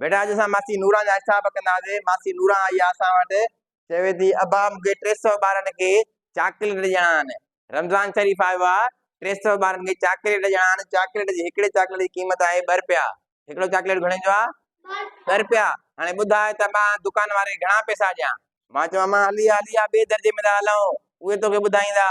بيٽا اڄ اسان ماسي نوران جا حساب ڪندا هئاسين ماسي نوران آئي آ اسان وٽ چوي ٿي ابا مون کي ٽي سؤ ٻارن کي چاڪليٽ ڏيڻا آهن رمضان شريف آيو آ ٽي سؤ ٻارن کي چاڪليٽ ڏيڻا آهن چاڪليٽ جي هڪڙي چاڪليٽ جي قيمت آهي ٻه روپيا هڪڙو چاڪليٽ گهڻي جو آهي ٻه روپيا هاڻي ٻڌاء ته مان دڪان واري گهڻا پيسا ڏيان مان چوان مان هلي هلي آ ٻئي درجي ۾ ٿا هلون اهي توکي ٻڌائيندا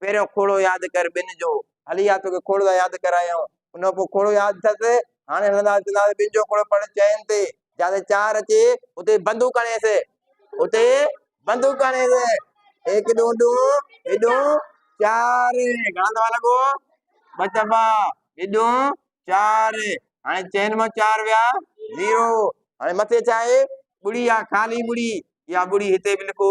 پهريون کوڙو ياد ڪر ٻن جو. هلي آ توکي کوڙ ٿا ياد ڪرايون. ان کان پوء کوڙو ياد اٿس. هاڻي هلندا اچندا ته ٻن جو کوڙو پڙهه چئن تي. جتي چار اچي اتي بندوق هڻيس. اتي بندوق هڻيس. هيڪ ڏون ڏون ڏون چار. گهڻا دفعا لڳو؟ ٻه دفعا. ٻه ڏون چار. هاڻي چئن مان چار ويا زيرو. هاڻي مٿي ڇا آهي؟ ٻڙي آهي خالي ٻڙي. اها ٻڙي هتي به لکو.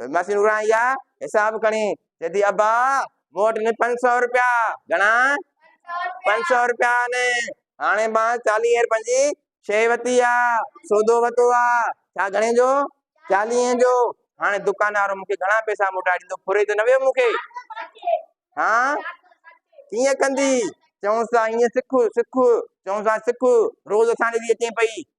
وينداسين نوران يا حساب کڻي چيدي ابا مون وٽ نه پنج سؤ روپيا گھڻا پنج سؤ روپيا نه هاڻي ماں چاليهه روپين جي شي ورتي آ سودو ورتو آ ڇا گھڻي جو چاليهه جو هاڻي دڪاندار مونکي گھڻا پئسا موٽائي ڏيندو ڦري ته نه ويو مونکي ها ڪيئن ڪندي چئونس ٿا ائين سک سک چئونس ٿا سک روز اسان ڏي اچين پئي